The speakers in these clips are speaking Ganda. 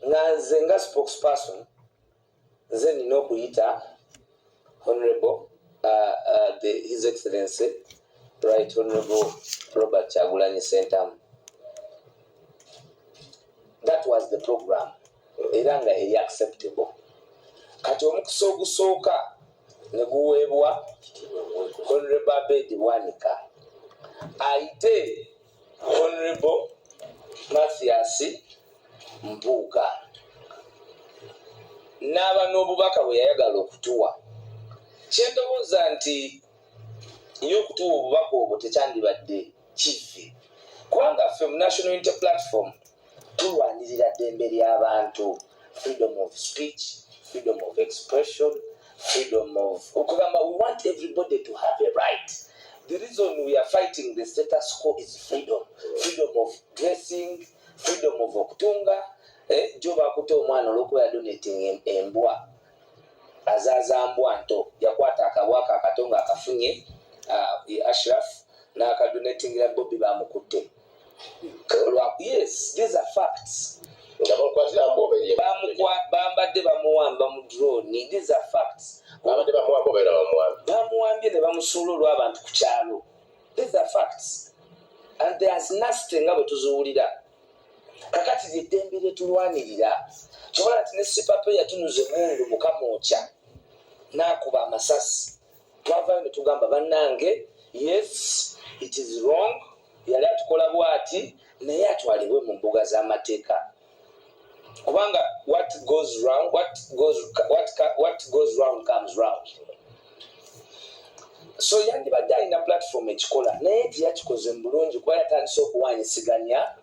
nga nze nga spokesperson nze nina okuyita honorable uh, uh, the, his excellency right honorable robert kyagulanyi sentamu that was the program era nga eri acceptable kati omukisa ogusooka ne guweebwa honorable abedi bwanika ayite Honorable Mathias Mpuuga n'aba n'obubaka bwe yayagala okutuwa kye ndowooza nti ye okutuwa obubaka obwo tekyandibadde kivve kubanga ffe mu national unity platform tulwanirira ddembe ly'abantu freedom of speech freedom of expression freedom of okugamba we want everybody to have a right the reason we are fighting the status quo is freedom freedom of dressing freedom of okutunga eh, jo bakuta omwana olwokuba yadonating embwa azaaza mbwa nto yakwata akabwa kakato nga akafunye uh, ashraf n'akadonatingira bobi bamukutte bambadde bamuwamba mu drone these are facts bambadde bamuwamba obeera bamuwamba bamuwambye ne bamusuula olw'abantu ku kyalo these are facts and there's nasty nga bwe tuziwulira kakati lyeddembe lyetulwanirira kyobola nti ne sipape yatunuza emundu mukamwokya n'akuba amasasi twavayo ne tugamba bannange yes it is wrong yali atukola bwati naye atwalibwe mu mbuga z'amateeka kubanga what goes round, what goes, what, what goes round comes round so yandibadde alina platform ekikola naye teyakikoze mu bulungi kuba yatandise okuwanyisiganya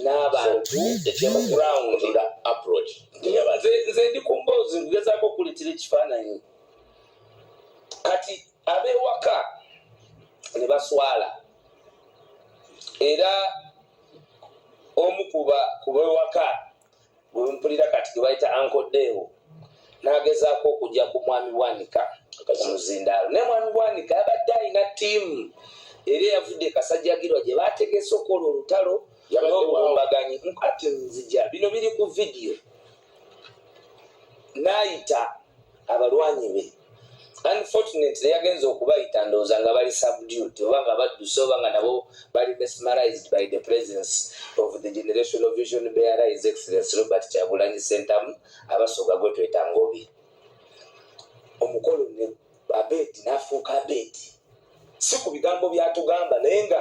n'abantu nze ndi ku mboozi ngezaako okuletera ekifaananyi kati abewaka ne baswala era omu kuba kubewaka bwempulira kati gebayita ankodeewo nagezaako okujja ku mwami bwanika muzindaalo naye mwami bwanika abadde alina tiimu era eyavudde kasajjagirwa gye bategese okola olutalo nobulumbaganyi nkati nzija bino biri ku vidiyo naayita abalwanyi be unfortunately yagenze okubayita ndowooza nga bali subdued oba nga badduse oba nga nabo bali mesmerized by the presence of the generation of vision bearer his excellence robert kyagulanyi sentamu abasoga gwe twetanga obi omukolo ne abed nafuuka abedi si ku bigambo byatugamba naye nga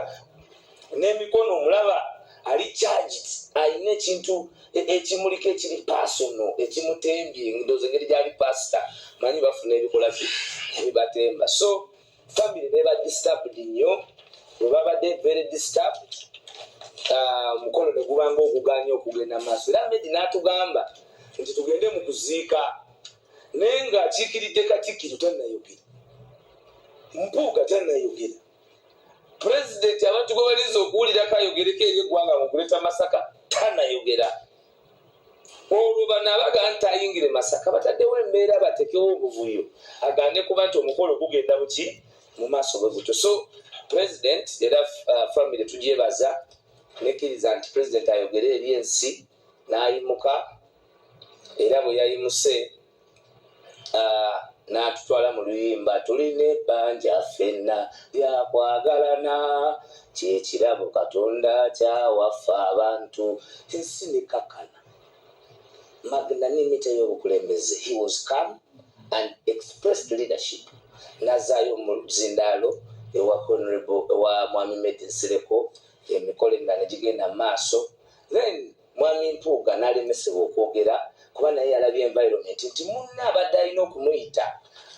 n'emikono omulaba ali charged alina ekintu e, ekimuliko ekiri personal ekimutembye ndoza engeri gyali pasita manyi bafuna ebikola ki ebibatemba so family beba disturbed nnyo webabadde very disturbed ah, omukono uh, negubanga oguganya okugenda maaso era medi natugamba nti tugende mu kuziika naye ng'akiikiridde katikkiro tannayogera mpuuga tannayogera pulezidenti abantu gwe balinza okuwulirako ayogereko eri eggwanga mu kuleta masaka tannayogera olwo bano abaga nti ayingire masaka bataddewo embeera batekewo obuvuyo agande kuba nti omukolo gugenda buki mu maaso bwe gutyo so pulezidenti era uh, famiry tugyebaza nekkiriza nti pulezidenti ayogere eri ensi n'ayimuka era bwe yayimuse n'atutwala mu luyimba tulina ebbanja ffenna lyakwagalana kyekirabo katonda kyawaffe abantu ensi nekakana magnanimity y'obukulembeze he was come and expressed leadership nazaayo mu zindaalo ewa honorable ewa mwami medi nsereko emikolo emirala gigenda mu maaso then mwami mpuuga nalemesebwa okwogera kuba naye yalabye environment nti munna abadde alina okumuyita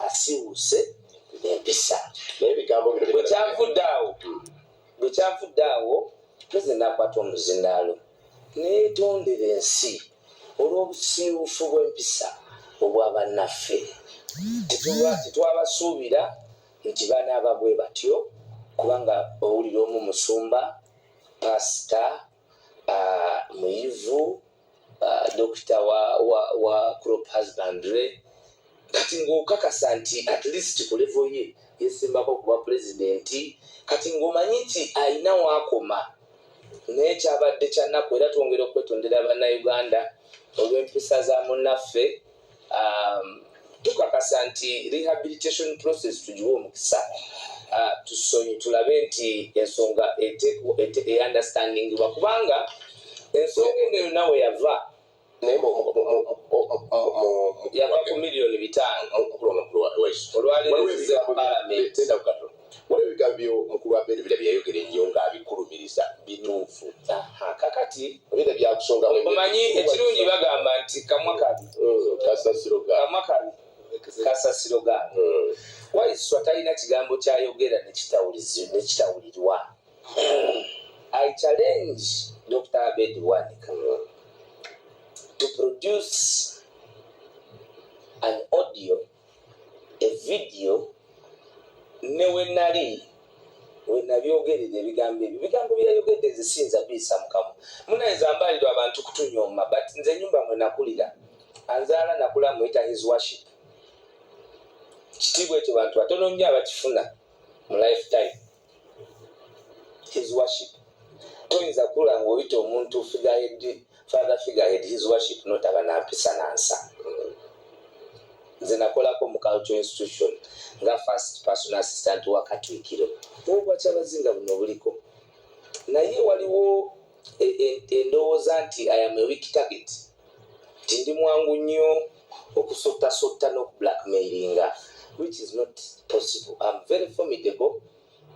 asiwuse empisa bwekyavudde awo bwekyavudde awo tuze nakwata omuzindaalo netondera ensi olw'obusiiwufu bw'empisa obwa bannaffe tetwabasuubira nti banaaba bwe batyo kubanga owulira omu musumba pastor uh, muyivu uh, dokita wa, wa, wa crop husbandry kati ng'okakasa nti at least ku levo ye yesimbako okuba pulezidenti kati ng'omanyi nti alina waakoma naye kyabadde kyannaku era twongera okwetondera bannauganda olw'empisa za munnaffe um, tukakasa nti rehabilitation process tugiwa omukisa uh, tusonyi tulabe nti ensonga eunderstandingibwa kubanga ensonga eno yonna we yava naye yava ku miliyoni bitaano olwali Waliwo ebigambo byo mukulu wa Ben Villa bye yayogera ennyo ng'abikulumiriza bituufu. Aha, kakati Obera byakusongamu emmere. omanyi ekirungi bagamba nti kamwa kabi Mm, Kasasiro ga. kamwa kabi kasasiro ga Mm. waiswa talina kigambo kyayogera nekitawulizi- nekitawulirwa i challenge dr abed wanika to produce an audio evidiyo ne we nali we nabyogerera ebigambo ebyo bigambo byeyayogedde nze siyinza biyisa mukamu munaye zambalirwa abantu kutunyooma but nze enyumba mwe nakulira anzaala nakula muyita his worship kitiibwa ekyo bantu batono nnyo abakifuna mu lifetime his worship toyinza kula ngaoyita omuntu figahed father figahed his worship notaba nampisa nansa nze nakolako mu cultural institution nga first person assistant wa katwikiro obwakyabazinga buno buliko naye waliwo e, e, endowooza nti i am a weak target nti ndi mwangu nnyo okusottasotta n'okublackmailinga which is not possible am very formidable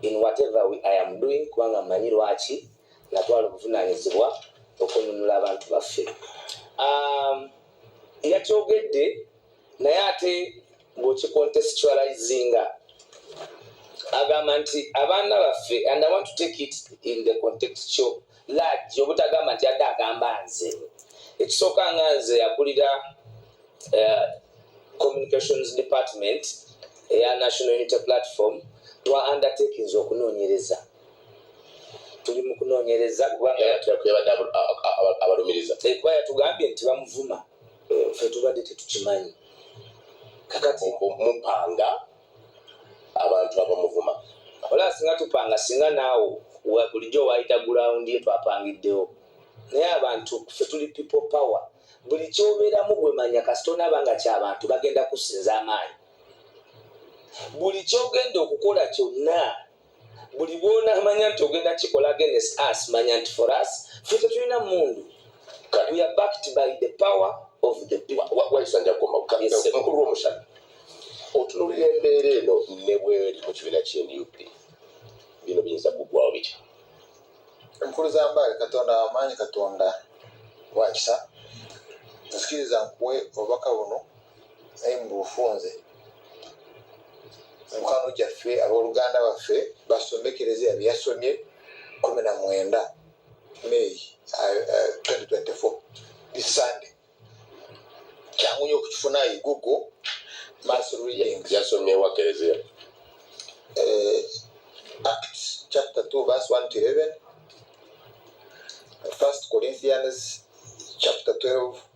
in whatever we i am doing kubanga mmanyi lwaki natwala obuvunaanyizibwa okununula abantu baffe um, yakyogedde naye ate ng'okikontesitualizinga agamba nti abaana baffe and i want to take it in the context kyo lagi obutagamba nti adde agamba nze ekisooka nga nze akulira eh, communications department eya national unity platform twa undertakings okunoonyereza tuli mu kunoonyereza kubanga yatugambye nti bamuvuma ffe tubadde tetukimanyi kakati mupanga abantu abamuvuma ola singa tupanga singa naawo bulijjo waayita gulawundi ye twapangiddewo naye abantu ffe tuli people power buli kyobeeramu gwemanya kasitonaaba nga kyabantu bagenda kusinza amaanyi buli kyogenda okukola kyonna buli bwonamanya nti ogenda kikola against us manya nti for us fe tetulina mundu we are backed by the power of the peoplewayisanjakomakulu womusana otunulira embeera eno nebweri mu kibiina kye nup bino biyinza kugwawo bitya enkulu za mbaale katonda wamaanyi katonda wakisa nzikiriza nkuwe obubaka buno naye mubufunze mukwano gyaffe aboluganda baffe basomekereze abyeyasomye kumi na mwenda may 2024 isande kyangu nyo okukifuna igugu mass reading yasomye wa kereziya eh, acts chapter 2 verse 1 to 11 first corinthians chapter 12